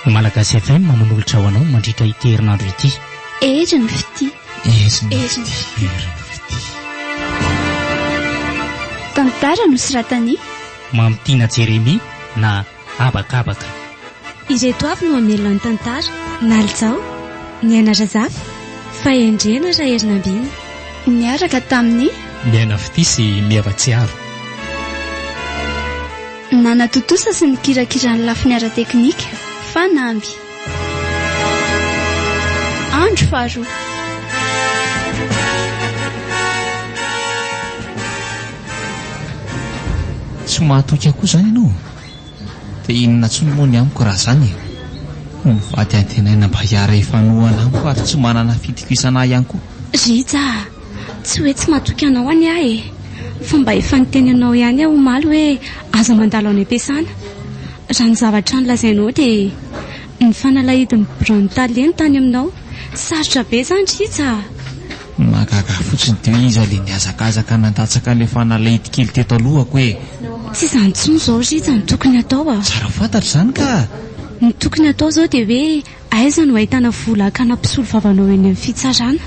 Malagasy FM manolotra ho anao mandritra ity herinandro ity. Ery ny fitia. Ery ny fitia. Tantara nosoratan'i Mamitiana Jeremia na habakabaka. Ireto avy no hamelo ny tantara. Nalzao, Niaina Razafy, Fahendrena Raherinambina. Niaraka tamin'i. Niaina Fitia sy Mieva Tsiaro. Nanatontosa sy nikirakira ny lafiny ara-teknika, fanamby. Andro faharoa. Tsy mahatoky akoho izany ianao? Dia inona intsony moa ny amiko raha izany e! Mivady antenaina mba hiara-hifanohana amiko ary tsy manana fitokisana ahy ihany koa. Rija a! Tsy hoe tsy mahatoky anao anie aho e! Fa mba efa niteny anao ihany aho omaly hoe aza mandalo any am-piasana. Raha ny zavatra nolazainao dia ny fanalahidin'ny biraon'ny tale ny tany aminao. Sarotra be izany ry Iza a! Mahagaga fotsiny teo iza le nihazakazaka nandatsaka le fanalahidy kely teto alohako e! Tsy izany intsony izao ry Iza no tokony atao a! Tsara fantatra izany ka! Ny tokony atao izao dia hoe Aiza no ahitana vola hakana mpisolo vava anao eny amin'ny fitsarana?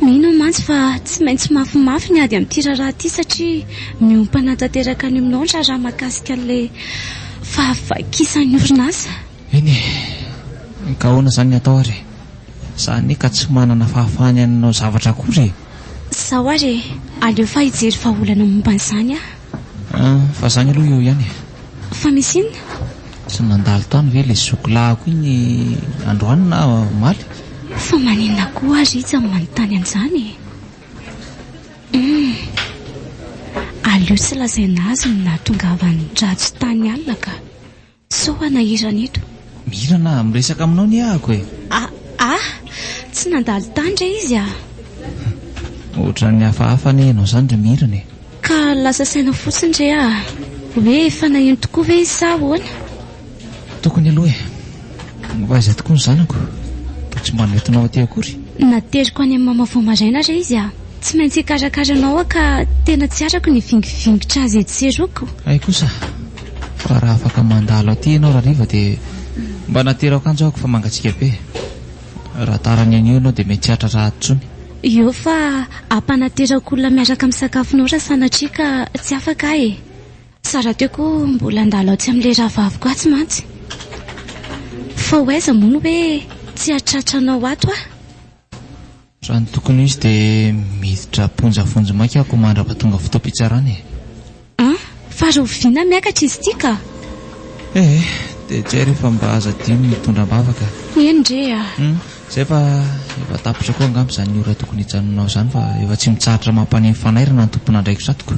Mino aho mantsy fa tsy maintsy mafimafy ny ady amin'ity raharaha ity satria miompana tanteraka any aminao ny raharaha mahakasika an'ilay fahavakisan'ny orinasa. Eny e! Ka ahoana izany ny atao ary e? Za anie ka tsy manana fahafahana ny hanao zavatra akory e! Sao ary e! Aleo fa hijery vahaolana momba an'izany aho. Fa zany aloha eo ihany e. Fa misy inona? Tsy nandalo tany ve ilay zokolahiko iny androany na omaly? Fa maninona koa aho Rija no manontany an'izany e? Hum. Aleo tsy lazaina azy ny nahatongavany Rhajo tany alina ka. Sao ana hirana eto? Mihirana ah, miresaka aminao anie ahako e! Ah ah! Tsy nandalo tany re izy ah! Ohatran'ny hafahafa anie ianao izany ry Mirana e! Ka lasa saina fotsiny re ah! Hoe efa naheno tokoa ve izy sa ahoana? Tokony aloha e! Fa aiza tokoa ny zanako? Toa tsy mba nentinao aty akory? Nateriko any amin'ny mama vao maraina re izy ah! Tsy maintsy hikarakara anao aho ka tena tsy arako ny vingivingitr'azy etsy sy eroa ko! Hay kosa! Fa raha afaka mandalo aty ianao rahariva dia mba natero akanjo ahako fa mangatsiaka be. Raha tara ny anio ianao dia mety tsy hahatratra ahy intsony. Eo fa hampanaterako olona miaraka misakafonao raha sanatria ka tsy afaka aho e. Sa rahateo koa mbola handalo atsy amin'ilay rahavaviko atsy mantsy. Fa ho aiza moa ny hoe tsy hahatratra anao ato aho? Raha ny tokony ho izy dia miditra am-ponja vonjy maika ako mandrapa tonga fotoam-pitsarana e! An! Fa rahoviana miakatra izy ity ka? Eh eh! Dia tsy hay re fa mba aza adino ny mitondra am-bavaka. Eny re a! Hum! Izay fa efa tapitra koa angamba izany ora tokony hijanonanao izany fa efa tsy mitsahatra mampaneno fanairana ny tompon'andraikitr'atiko.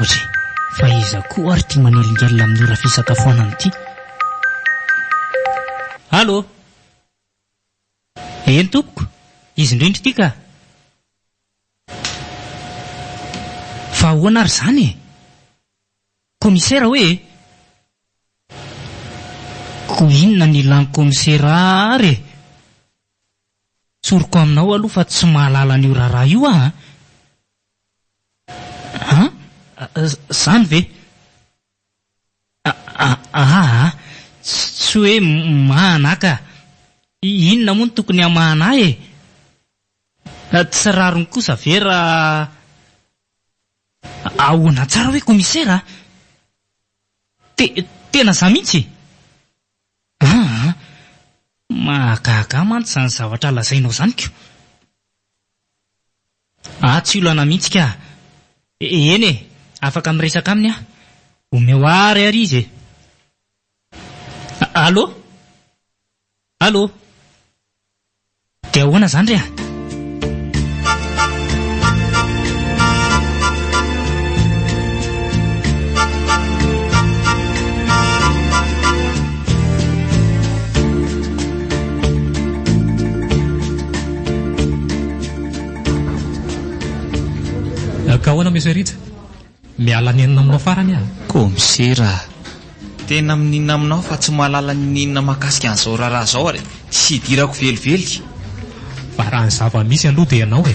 Ory, fa iza koa ary ity manelingelina amin'ny ora fisakafoanana ity? Allô? Eny tompoko, izy indrindra ity ka! Fa ahoana ary izany e? Komisera hoe e? Koa inona no ilàn'ny komisera ary e? Tsoriko aminao aloha fa tsy mahalala an'io raharaha io aho an! An? Izany ve? Ahaha. Tsy hoe mahana ahy ka. Inona moa no tokony hamahana ahy e? Tsy rariny kosa ve raha. Ahoana tsara hoe komisera a? Tena izaho mihitsy e? Ahaha. Mahagaga ahy mantsy izany zavatra lazainao izany ko. Ah tsy olana mihitsy ka! Eny e! Afaka miresaka aminy aho. Omeo àry àry izy e! Allô? Allô? Dia ahoana izany re a? Ka ahoana Monsieur Rija? Miala ny enina aminao farany aho. Komisera a! Tena mininona aminao fa tsy mahalala ny ninona mahakasika an'izao raharaha izao ary tsy hidirako velively. Fa raha ny zava-misy aloha dia ianao e!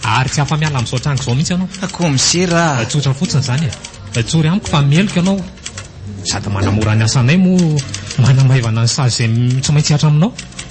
Ary tsy afa-miala amin'izao tranga izao mihitsy ianao. Ah, komisera a! Tsotra fotsiny izany e! Tsory amiko fa meloka ianao sady manamora ny asanay moa manamaivana ny sazy izay tsy maintsy hihatra aminao.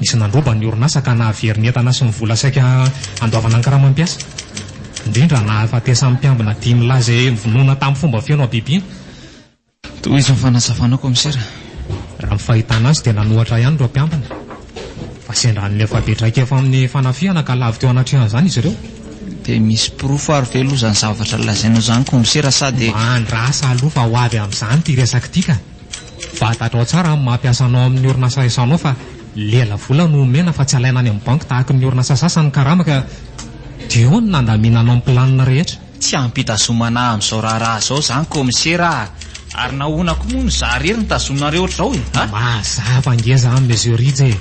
Nisy nandroba ny orinasa ka nahavery ny entana sy ny vola saika handoavana ny karamam-piasa. Indrindra nahafatesan'ny mpiambina dimy milaza izay vonoina tamin'ny fomba feno habibiana. Tohizo ny fanazavana kaomisera. Raha ny fahitana azy dia nanohatra ihany ireo mpiambina fa sendra hanome fabe traikefa amin'ny fanafihana ka lavo teo anatrehan'izany izy ireo. Dia misy porofo ary ve aloha izany zavatra lazainao izany kaomisera sa dia. Mba andrasa aloha fa ho avy amin'izany ity resaka ity ka. Fatatrao tsara amin'ny maha mpiasa anao amin'ny orinasa resahanao fa lela vola no omena fa tsy alaina any amin'ny banky tahaky ny orinasa sasany ny karama ka dia eo no nandaminanao ny planina rehetra. Tsy ampitazomana amin'izao raharaha izao izany kaomisera ah! Ary nahoana koa moa no izaho irery no tazominareo ohatr'izao e ah! Mazava ngeza an Monsieur Rija e!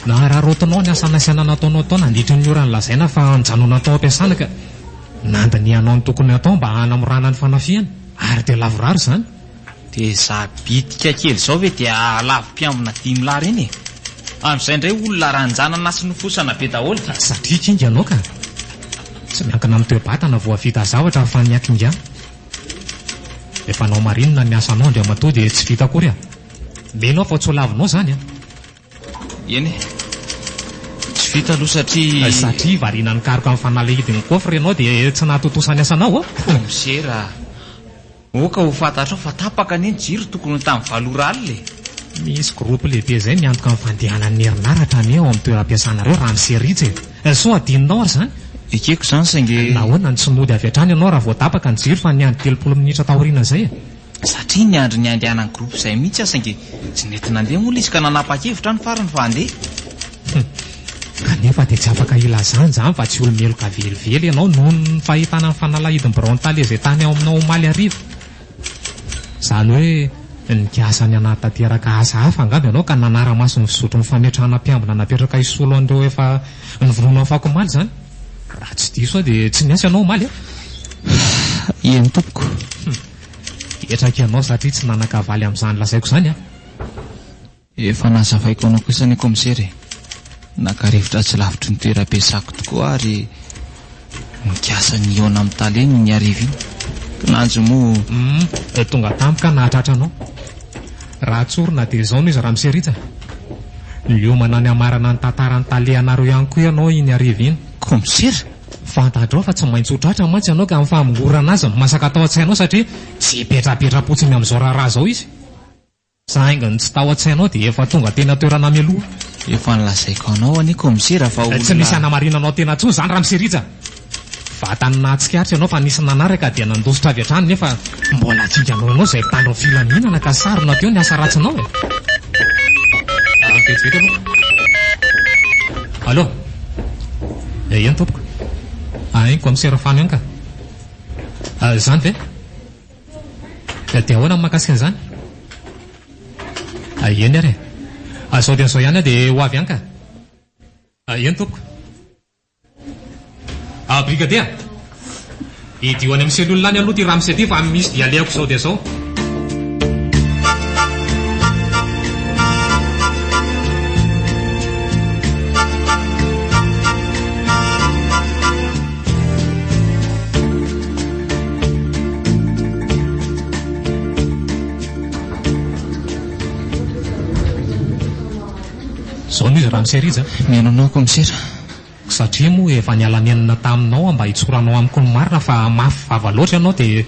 Nahararaotinao ny asa nasaina nataonao tao nandritry ny ora nolazaina fa nijanona tao am-piasana ka nandinihanao ny tokony hatao mba hanamorana ny fanafihana ary dia lavorary izany. Dia izaho bitika kely izao ve dia lavo mpiambina dimy lahy ireny e! Amin'izay indray olona ranjanana sy nofosana be daholo ka! Satria kinga ianao ka! Tsy miankina amin'ny toe-batana vao hahavita zavatra fa ny hakingana. Rehefa anao marinina ny asanao Andriamatoa dia tsy vita akory an! Mino aho fa tsy ho lavinao izany an! Eny e! Tsy vita aloha satria. Satria variana nikaroka ny fanalahidin'ny coffre ianao dia tsy nahatontosa ny asanao an! Commissaire a! Oka ho fantatrao fa tapaka anie ny jiro tokony ho tamin'ny valo ora alina e! Misy groupe lehibe izay miantoka ny fandehanan'ny herinaratra anie ao amin'ny toeram-piasanareo raha misy ritra e! Sao hadinonao ary izany? Ekeko izany saingy e! Nahoana no tsy mody avy hatrany ianao raha vao tapaka ny jiro fa niandry telopolo minitra taoriana izay e! Satria niandry ny handehanan'ny groupe izay mihitsy aho saingy tsy nety nandeha moa ilay izy ka nanapa-kevitra aho ny farany fa handeha. Hum. Kanefa dia tsy afaka ilazana izany fa tsy olo-meloka velively ianao noho ny fahitana ny fanalahidin'ny biraon'ny tale izay tany ao aminao omaly hariva. Izany hoe nikasa ny hanatanteraka asa hafa angamba ianao ka nanara-maso ny fizotry ny fametrahana mpiambina napetraka hisolo an'ireo efa novonoina afakomaly izany. Raha tsy diso aho dia tsy niasa ianao omaly an? Eny tompoko. Hum. Hetraka ianao satria tsy nanan-kavaly amin'izany lazaiko izany an! Efa nazavaiko ho anao kosa ny Kaomisera e! Naka rivotra tsy lavitry ny toeram-piasako tokoa aho ry nikasa nihaona amin'ny Tale ny Ianiarivo iny. Kinanjo moa. Hum, dia tonga tamiko aho nahatratra anao. Raha tsorina dia izao no izy Ramose Rija. Niomana ny hamarana ny tantaran'ny Tale anareo ihany koa ianao iny hariva iny. Kaomisera! Fantatrao fa tsy maintsy ho tratra mantsy ianao ka amin'ny famongorana azy no masaka tao an-tsainao satria tsy hipetrapetra-potsiny amin'izao raharaha izao izy. Za haingony tsy tao an-tsainao dia efa tonga teny an-toerana mialoha. Efa nolazaiko anao anie Kaomisera fa olona. Tsy misy hanamarinana anao tena intsony izany Ramose Rija. Vatany nahatsikaritra ianao fa nisy nanaraka dia nandositra avy hatrany nefa mbola jinganao ianao izay mpitandro ny filaminana ka sarona teo ny asa ratsinao e. Ary vetivety aloha. Allô? Eh eny tompoko. Ain Kaomisera Fano ihany ka. Izany ve? Dia ahoana ny mahakasika an'izany? Hay eny ary e! Azao dia azao ihany aho dia ho avy any ka! Hay eny tompoko! Ah brigader! Hidio any amin'ny cellule any aloha ity ramose ity fa misy dia alehako izao dia izao! Zao no izy ramose rija a. Mihaino anao koa misera. Satria moa efa niala nenina taminao aho mba hitsoranao amiko ny marina fa mafy vava loatra ianao dia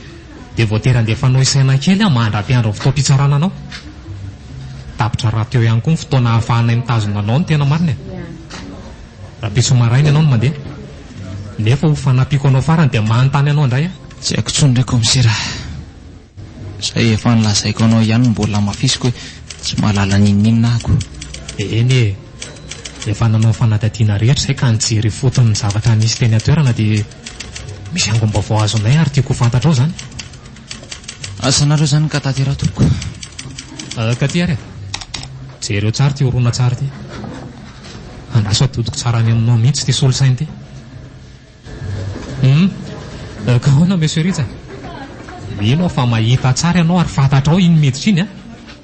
dia voatery andefanao isaina kely aho mandra-piandry ny fotoam-pitsarana anao. Tapitra rahateo ihany koa ny fotoana ahafahanay mitazona anao ny tena marina e. Rahampitso maraina ianao no mandeha. Nefa ho fanampiako anao farany dia manontany anao indray aho. Tsy haiko intsony re Kaomisera ah. Izay efa nolazaiko anao ihany no mbola hamafisiko hoe tsy mahalala n'inon'inona aho ko. Eny e! Efa nanao fanadadiana rehetra izay ka nijery ifotony ny zavatra nisy teny an-toerana dia misy angom-baovao azonay ary tiako ho fantatrao izany. Asanareo izany ka tateraha tompoko. Ah, ka ty ary ah. Jereo tsara ty horonantsary ty. Andraso atodiko tsara any aminao mihitsy ty solosaina ty. Hum. Ah, ka ahoana Monsieur Rija? Mino aho fa mahita tsara ianao ary fantatrao iny miditra iny ah.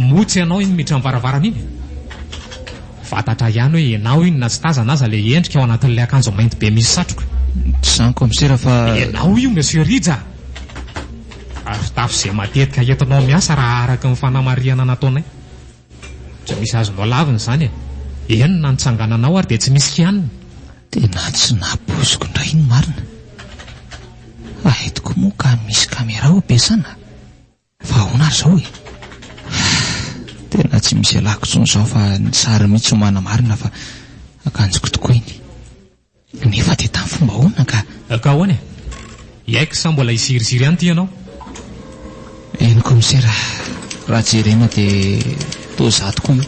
Moa tsy ianao iny miditra am-baravarana iny? Fantatra ihany hoe ianao iny na tsy tazana aza ilay endrika ao anatin'ilay akanjo mainty be misy satroka. Tsy izany komisera fa. Ianao io Monsieur Rija! Ary fitafy izay matetika entinao miasa raha araka ny fanamarihana nataonay. Tsy misy azonao lavina izany e! Eny na ny tsangananao ary dia tsy misy kianina. Tena tsy napoiziko indray iny marina. Hay tokoa moa ka misy caméra ao am-piasana? Fa ahoana ary izao e? Ahh, tena tsy misy ialako intsony izao fa ny sary mihitsy no manamarina fa akanjoko tokoa iny. Nefa dia tamin'ny fomba ahoana ka? Ka ahoana e? Yaik sa mbola hiziriziry ihany ity ianao? Eny komisera, raha jerena dia toa izaho tokoa io,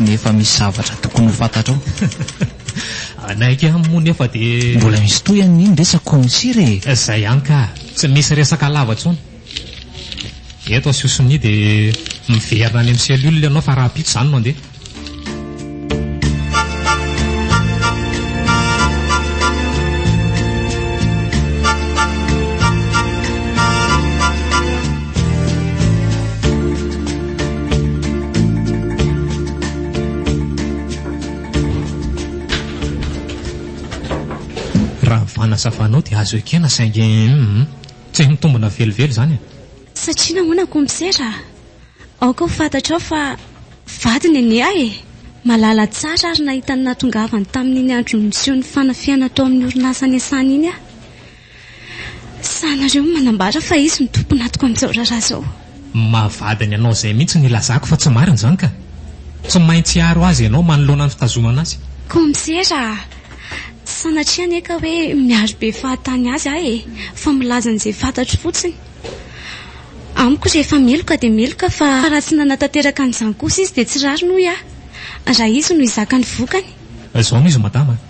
nefa misy zavatra tokony ho fantatrao. Hanaiky aminy moa nefa dia. Mbola misy tohiny ny resako komisera e! Izay ihany ka, tsy misy resaka lava intsony. Eto asio sonia dia miverina any amin'ny cellule ianao fa rahampitso izany no handeha. Raha ny fanazavanao dia azo ekena saingy hum. Tsy mitombona velively izany e! Satria nahoana Comsera a? Aoka ho fantatrao fa vady Neny ahy e! Malala tsara ary nahita ny nahatongavany tamin'iny andro niseho ny fanafihana tao amin'ny orinasa niasany iny aho. Sahy nareo ny manambara fa izy no tompon'atoko amin'izao raharaha izao. Maha vadiny anao izay mihitsy no ilazako fa tsy marina izany ka! Tsy maintsy hiaro azy ianao manoloana ny fitazomana azy. Kaomisera a! Tsy sanatria anie ka hoe miaro be fahatany azy aho e! Fa milaza an'izay fantatro fotsiny. Amiko rehefa meloka dia meloka fa raha tsy nanatanteraka an'izany kosa izy dia tsy rariny hoy aho raha izy no hizaka ny vokany. Izao no izy madama a!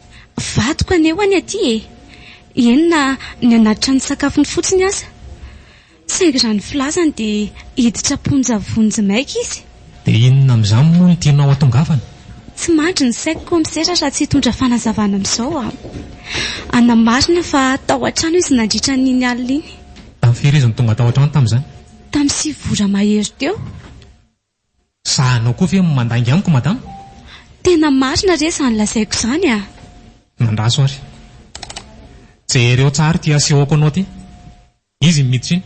Vadiko anewa ny aty e! eny na ny anaty trano sakafony fotsiny aza. Saingy raha ny filazany dia hiditra am-ponja vonjy maika izy. Dia inona amin'izany moa no tianao hatongavana? Tsy mandry ny saiko komisera raha tsy hitondra fanazavana amin'izao aho. Hanamarina fa tao an-trano izy nandritra an'iny alina iny. Tamin'ny firy izy no tonga tao an-trano tamin'izany? Tamin'ny sivy ora mahery teo. Za anao koa ve mandainga amiko madama? Tena marina re zany lazaiko zany a! Mandraso ary. Jereo tsara ity asehoko anao ity. Izy no miditra iny.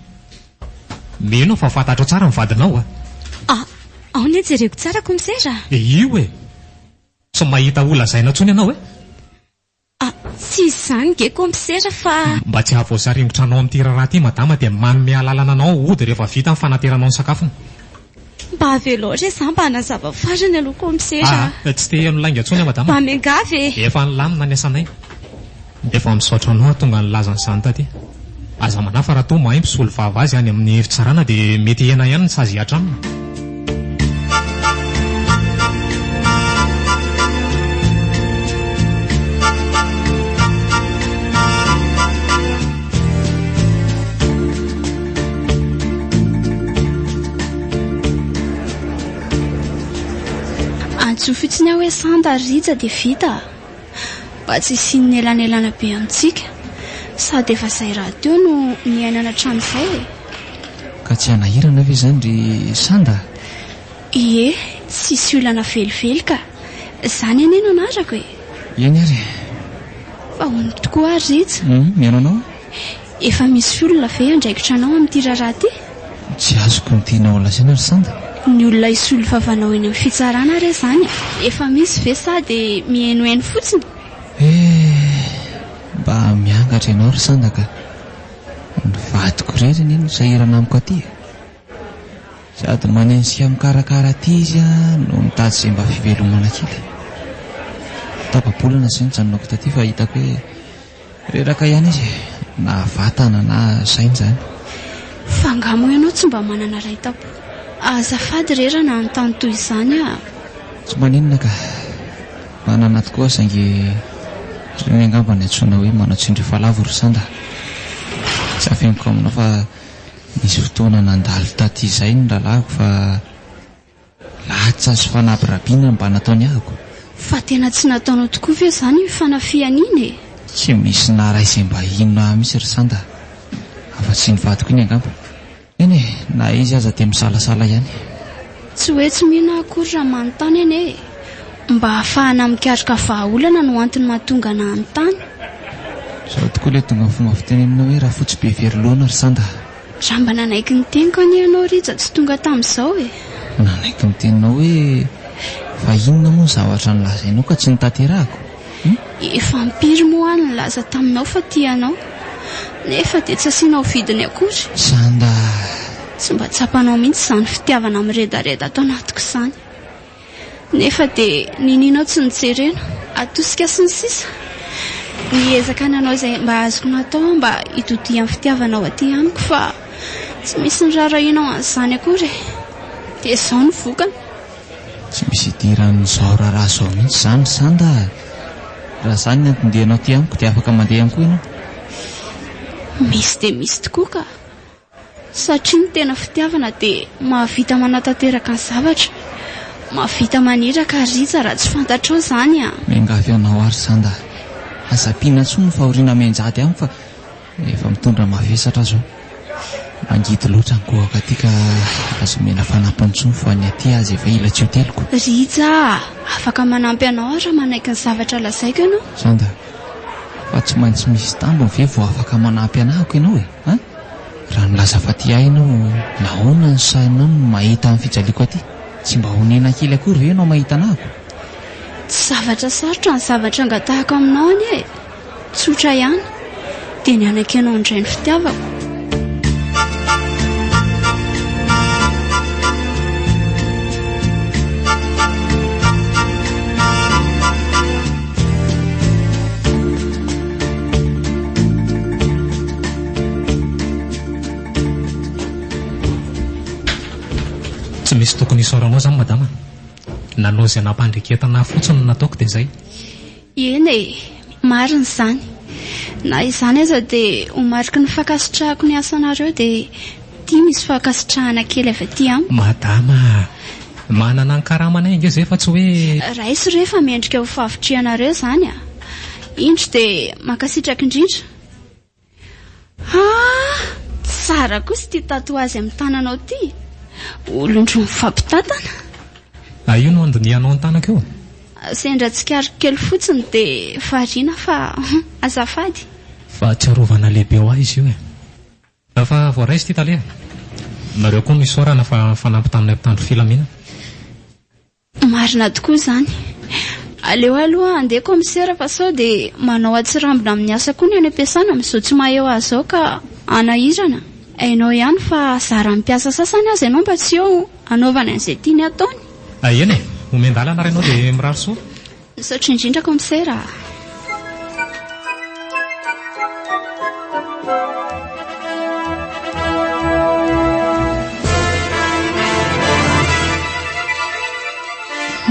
Mino aho fa fantatrao tsara ny vadinao a! Ah, ao ny jereko tsara komisera a! Dia io e! Tsy mahita ho lazaina intsony ianao e! Ah, tsy izany ge compisera fa. Mba tsy hahavoasaringotra anao amin'ity raharaha ity madama dia manome alalana anao hody rehefa vita ny fanateranao ny sakafony. Mba avelao re za mba hanazava farany aloha compisera a. Ah, tsy te heno lainga intsony aho madama. Mba miangavy e. Efa nilamina ny asanay. Efa misaotra anao hahatonga nilaza an'izany taty. Aza manahy fa raha toa mahay mpisolo vava azy any amin'ny fitsarana dia mety hiaina ihany ny sazy hihatra aminy. Antso fotsiny aho hoe Santa ary Rija dia vita. mba tsy hisian'ny elanelana be amintsika sady efa izay rahateo no niainana hatramin'izay e! Ka tsy hanahirana ve izany ry Sanda? Ie, tsisy olana velively ka! Izany anie no anarako e! Eny ary e! Fa ahoana tokoa ary Rija? Hum, mihaino anao. Efa misy olona ve andraikitra anao amin'ity raharaha ity? Tsy azoko ny tianao holazaina ry Sanda? Ny olona hisolo vavanao eny amin'ny fitsarana re izany e! Efa misy ve sa dia mihenoheno fotsiny? Eh! Mba miangatra ianao ry Sanda ka! Ny vadiko irery anie no sahirana amiko aty e! Sady manenjika mikarakara aty izy no mitady izay mba fivelomana kely. Tapa-bolana izay nijanonako taty fa hitako hoe reraka ihany izy e, na vatana na saina izany. Fa angaha moa ianao tsy mba manana ray tampo? Azafady re raha nanontany toy izany aho. Tsy maninona ka. Manana tokoa saingy ireny angamba no iantsoana hoe manao tsindry efa lavo ry sanda. Tsy afeniko aminao fa Nisy fotoana nandalo taty izay ny rahalahiko fa latsa sy fanabirabiana no mba nataony ahiko. Fa tena tsy nataonao tokoa ve izany iny fanafihana iny e? Tsy misy naraisim-bahiny ahy mihitsy ry Sanda afa-tsy ny vadiko iny angamba. Eny e, na izy aza dia misalasala ihany. Tsy hoe tsy mino akory raha manontany anie e! Mba hahafahana mikaroka vahaolana no antony mahatonga ana hanontany. Zao tokoa ilay tonga fomba fiteny aminao hoe rafotsy be very loana ry sanda. Raha mba nanaiky ny teniko anie ianao Rija tsy tonga tamin'izao e! Nanaiky ny teninao hoe fa inona moa ny zavatra nolazainao ka tsy notanterahako? Efa impiry moa aho no nilaza taminao fa tia anao, nefa dia tsy asianao vidiny akory? Za mba. Tsy mba tsapanao mihitsy izany fitiavana miredareda ato anatiko izany. Nefa dia niniana aho tsy nijerena, atosika sy ny sisa. Niezaka nanao izay mba azoko natao aho mba hitodihan'ny fitiavanao aty amiko fa tsy misy niraharahianao an'izany akory e. Dia izao ny vokany. Tsy misy idiran'izao raharaha izao mihitsy izany ry Sanda a! Raha izany ny anton-dianao aty amiko dia afaka mandeha ihany koa ianao. Misy dia misy tokoa ka! Satria ny tena fitiavana dia mahavita manatanteraka ny zavatra, mahavita maniraka ary rija raha tsy fantatrao izany a! Miangavy anao aho ry Sanda a! Aza ampiana intsony ny fahoriana mianjady amiko fa Efa mitondra mavesatra zao. Mangidy loatra ny goaka aty ka aza omena fanampiny intsony fa ny aty aza efa ela tsy hoteloko. Rija a! Afaka manampy anao aho raha manaiky ny zavatra lazaiko ianao. Sanda, fa tsy maintsy misy tambiny ve vao afaka manampy anahako ianao e? An! Raha milaza fa tia ahy ianao nahoana no sahinao ny mahita ny fijaliako aty? Tsy mba honena kely akory ve ianao mahita anahako? Tsy zavatra sarotra ny zavatra angatahako aminao anie e! Tsotra ihany, dia ny anaka ianao indray no fitiavako. misy tokony isaoranao izany madama. Nanao izay nampandriketana ahy fotsiny no nataoko dia izay. Eny e! marina izany. Na izany aza dia ho mariky ny fankasitrahako ny asanareo dia ity misy fankasitrahana kely avy aty amiko. Madama a! manana ny karamanay ange izay fa tsy hoe. Raiso re fa mendrika ho fahavitrihanareo izany a! indro dia mankasitraka indrindra. Ah! Tsara kosa ity tatouage amin'ny tananao ity. Olon-droa mifampitantana. Ah, io no andinihanao ny tanako io? Sendra tsikariko kely fotsiny dia variana fa azafady. Fahatsiarovana lehibe ho ahy izy io e. Efa voaraiso ity tale e. Nareo koa no isaorana fa nifanampy taminay mpitandro filaminana. Marina tokoa izany. Aleo aloha andeha commissaire fa sao dia manao atsirambina amin'ny asa koa ny any am-piasana amin'izao tsy maha-eo azy izao ka hanahirana. Hainao ihany fa zaran'ny mpiasa sasany aza ianao mba tsy eo hanaovany an'izay tiany ataony. Eny e, omendalana ary ianao dia mirary soa. Misaotra indrindra comser a.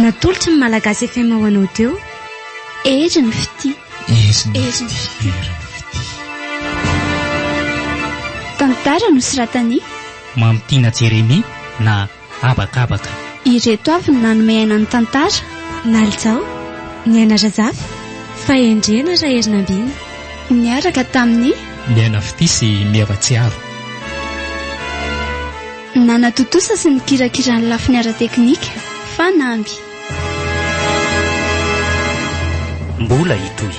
Natolotry ny Malagasy FM ho anao teo, Hery ny fitia. Hery ny fitia. Tantara nosoratan'i. Mamitiana Jeremia na habakabaka. Ireto avy ny nanome aina ny tantara. Nalitao, Niaina Razafy, Fahendrena Raherinambina. Niaraka tamin'i. Niaina Fitia sy Mia Ratsiaro. Nanatontosa sy nikirakira ny lafiny ara-teknika, fanamby. Mbola hitohy.